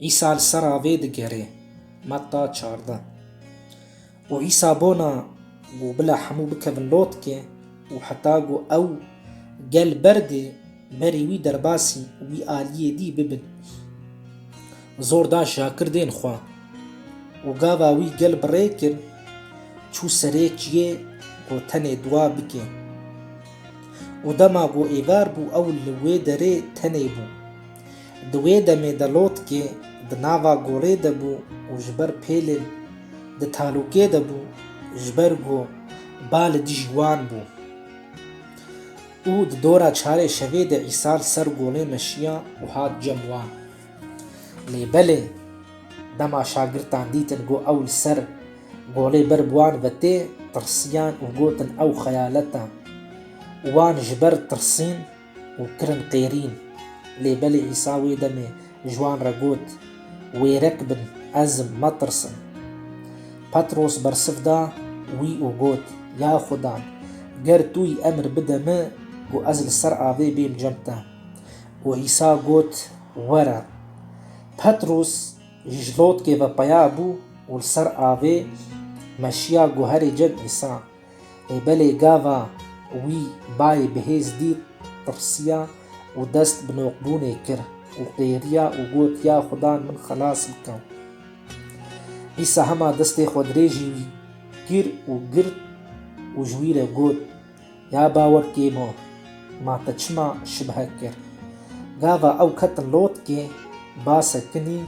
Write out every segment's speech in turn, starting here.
Îsa li ser avê digerê, Metta çardeh. Û Îsa bona ku bila hemû bikevin lotkê û heta ku ew gel berdê berî wî derbasî wî aliyê dî bibin. Zor da şakirdên xwe û gava wî gel bi rê kir, çû serê çiyê ku tenê duwa bike. Û dema ku êvar bû ew li wê derê tenê bû. Di wê demê de lotkê di nava gorê de bû û ji ber pêlên di talûkê de bû ji ber ku ba li dijî wan bû û di dora çarê şevê de îsal ser golê meşiya û hat cem wan. Lê belê dema şagirtan dîtin ku ew li ser golê ber bi wan ve tê, tirsiyan û gotin ew xeyalet e. Wan ji ber tirsîn û kirin qêrîn. Lê belê Îsa wê demê ji wan re got, Wêrek bin, ez im, metirsin. Petros bersiv da wî û got, Ya Xuda, ger tu yî emir bide min ku ez li ser avê bêm cem te. Û Îsa got, Were. Petros jî ji lotkê ve peya bû û li ser avê meşiya guherê cem Îsa. Ê belê gava wî bayê bihêz dît, tirsiya û dest bi noqbûnê kir û qêriya û got ya xudan min xelas bike. Îsa hema destê xwe dirêjî wî kir û girt û ji wî re got, Ya bawer kêbo, ma te çima şibhe kir? Gava ew ketin lotkê, base kinî,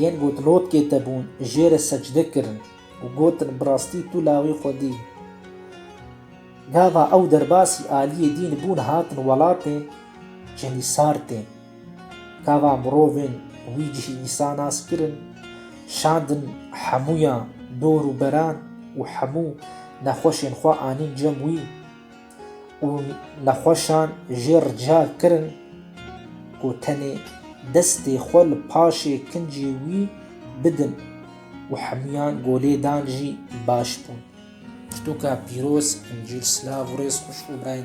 yên got lotkê te bûn jê re secde kirin. û gotin, Bi rastî tu lawê xwe dî. Gava ew derbasî aliyê dîn bûn hatin welatê Cenisartê. Gava mirovên wî cihî Îsa nas kirin, şandin hemûyan dor û beran û hemû nexweşên xwe anîn cem wî. û nexweşan jê rica kirin ku tenê destê xwe li paşê kincê wî bidin û hemiyan ku lêdan jî baş bûn. Pirtûka pîroz, Încîl, silav û rêz xweş û birayî.